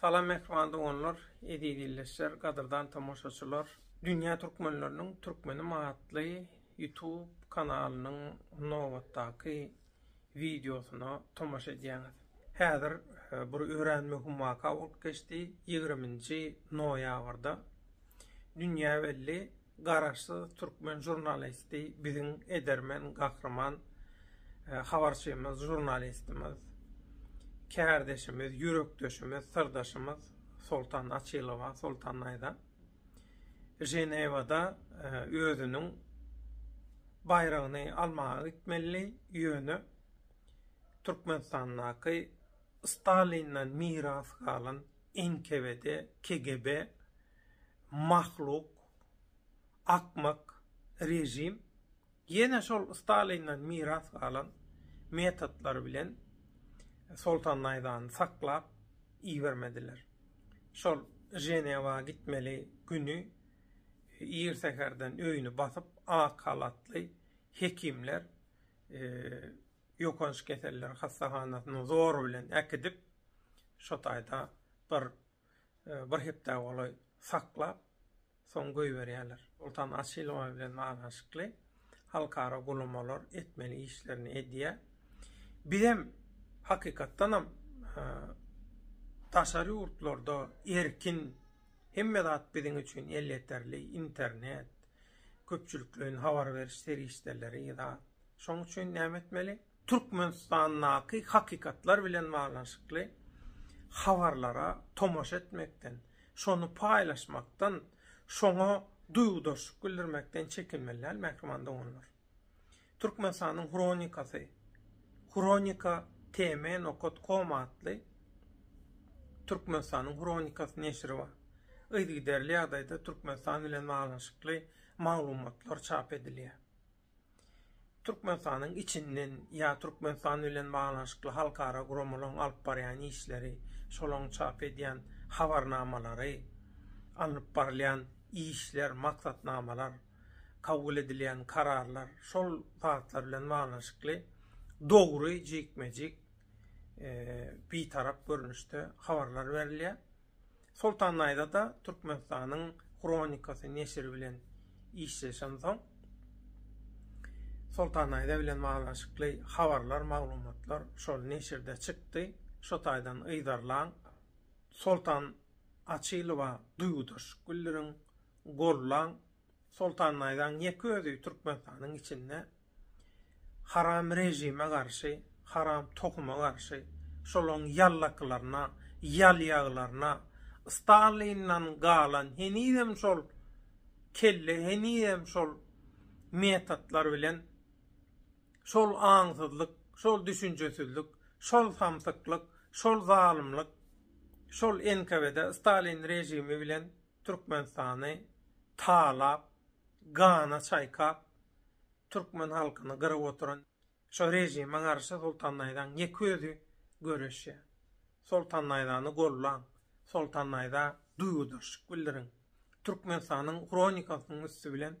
Salam mähriban doganlar, eziz ildeşler, gadyrdan tomaşaçylar! Dünýä türkmenleriniň Türkmenim atly YouTube kanalynyň nobatdaky wideosyna tomaşa edýäňiz. Häzir bir örän möhüm waka bolup geçdi, ýigriminji noýabrda dünýä belli Garaşsyz türkmen žurnalisti biziň edermen gahryman habarçymyz žurnalistimiz kärdeşimiz ýürekdeşimiz syrdaşymyz Soltan Açylowa Soltan daýza Ženewada özüniň baýragyny almaga gitmelidi ýöne Türkmenistandaky Stalinden miras galan NKWD KGB Mahluk, akmak režim ýene şol Stalinden miras galan metodlar bilen Soltan Naýzany saklap ibermediler. Şol Ženewa gitmeli güni ir säherden öýüni basyp, ak halatly hekimler ýokanç keseller hassahanasyna zor bilen äkidip, şo taýda bir Bir hepdä golaý saklap, soň goýberýärler. Oltan açylyma bilen baglanyşykly halkara guramalar etmeli işlerini edýär. Bizem, hakykatdanam, daşary ýurtlarda erkin, hemme zat biziň üçin elýeterli, internet, köpçülikleýin habar beriş serişdeleri, zat. Şonuň üçin näme etmeli? Türkmenistandaky hakykatlar bilen baglanyşykly habarlara tomaşa etmekden, şony paýlaşmakdan, şoňa duýgudaşlyk bildirmekden çekinmeli däl, mähriban doganlar. Türkmenistanyň hronikasy, Hronika TM nokat kom atly Türkmenistanyň hronikasy neşiri bar. Yzygiderli ýagdaýda Türkmenistan bilen baglanyşykly maglumatlar çap edilýär. Türkmenistanyň içinden ýa Türkmenistan bilen baglanyşykly halkara guramalaryň alyp barýan işleri, şolaryň çap edýän habarnamalary, alnyp barylýan işler, maksatnamalar, kabul edilýän kararlar, şol zatlar bilen baglanyşykly dogry, jikme-jik, bitarap görnüşde habarlar berilýär. Soltan naýza-da Türkmenistanyň hronikasy neşiri bilen işleşensoň, Soltan naýza bilen baglanyşykly habarlar, maglumatlar şol neşirde çykdy. Şo taýdan yzarlaň. Soltan Açylowa duýgudaşlyk bildiriň, gollaň. Soltan naýzaň ýeke özi Türkmenistanyň içinde Haram režime garşy, haram tohuma garşy, şolaň ýallaklaryna, ýalýaglaryna, Stalindan galan henizem şol kelle, henizem şol metotlar bilen, şol aňsyzlyk, şol düşünjesizlik, şol samsyklyk, şol zalymlyk, şol NKWD, Stalin režimi bilen Türkmenistany talap, gana çaýkap, türkmen halkyny gyryp oturan şo režime garşy Soltan naýzaň ýeke özi göreşýär. Soltan naýzany gollaň, Soltan naýza duýgudaşlyk bildiriň. Türkmenistanyň hronikasynyň üsti bilen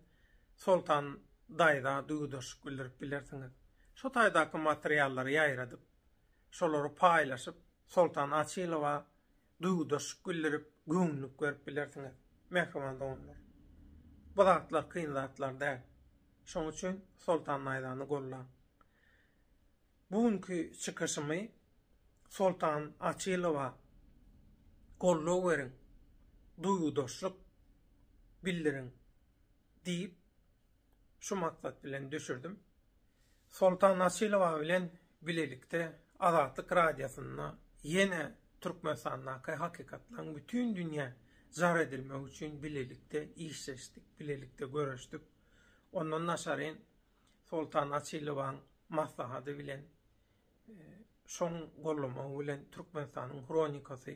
Soltan daýza duýgudaşlyk bildirip bilersiňiz. Şo taýdaky materiallary ýaýradyp, şolary paýlaşyp, Soltan Açylowa duýgudaşlyk bildirip, göwünlik berip bilersiňiz, mähriban doganlar. Bu zatlar kyn zatlar däl. Şonuň üçin Soltan Aýzany gollaň. Bu günki çykyşymy Soltan Açylowa goldaw beriň, duýgudaşlyk bildiriň. Diýip, şu maksat bilen düşürdim. Soltan Açylowa bilen bilelikde Azatlyk Radiosynda ýene Türkmenistandaky hakykatlaryň bütin dünýä jar edilmegi üçin bilelikde işleşdik, bilelikde göreşdik. Ondan daşaryn Soltan Açylowaň maslahady bilen Şoň goldamagy bilen Türkmenistanyň hronikasy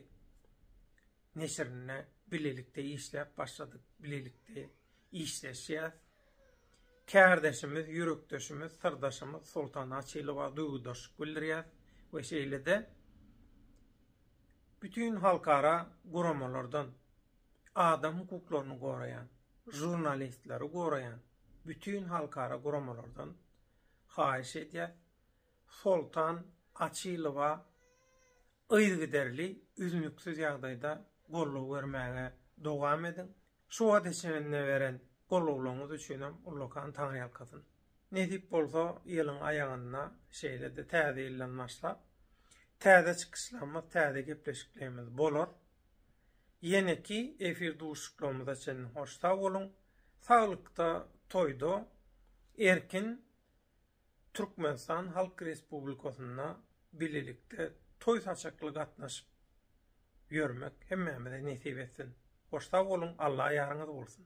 neşirinde bilelikde işläp başladyk, bilelikde işleşýäs. Kärdeşimiz, ýürekdeşimiz, syrdaşymyz Soltana Açylowa duýgudaşlyk bildirýäs we şeýle-de bütin halkara guramalardan, adam hukuklaryny goraýan, žurnalistleri goraýan bütin halkara guramalardan haýyş edýäs, Soltan Açylowa yzygiderli üznüksiz ýagdaýda goldaw bermäge dowam ediň. Şu wagta çenli beren goldawlaryňyz üçinem ullakan taňryýalkasyn. Nesip bolsa ýylyň aýagynda şeýle-de täze ýyldan başlap täze çykyşlarymyz, täze gepleşiklerimiz bolar. Ýeneki efir duşuşyklarymyza çenli hoş sag boluň. Saglykda, toýda, erkin Türkmenistan Halk Respublikasynda bilelikde toý saçakly gatnaşyp ýörmek hemmämize nesip etsin. Hoş sag boluň, Alla ýaryňyz bolsun.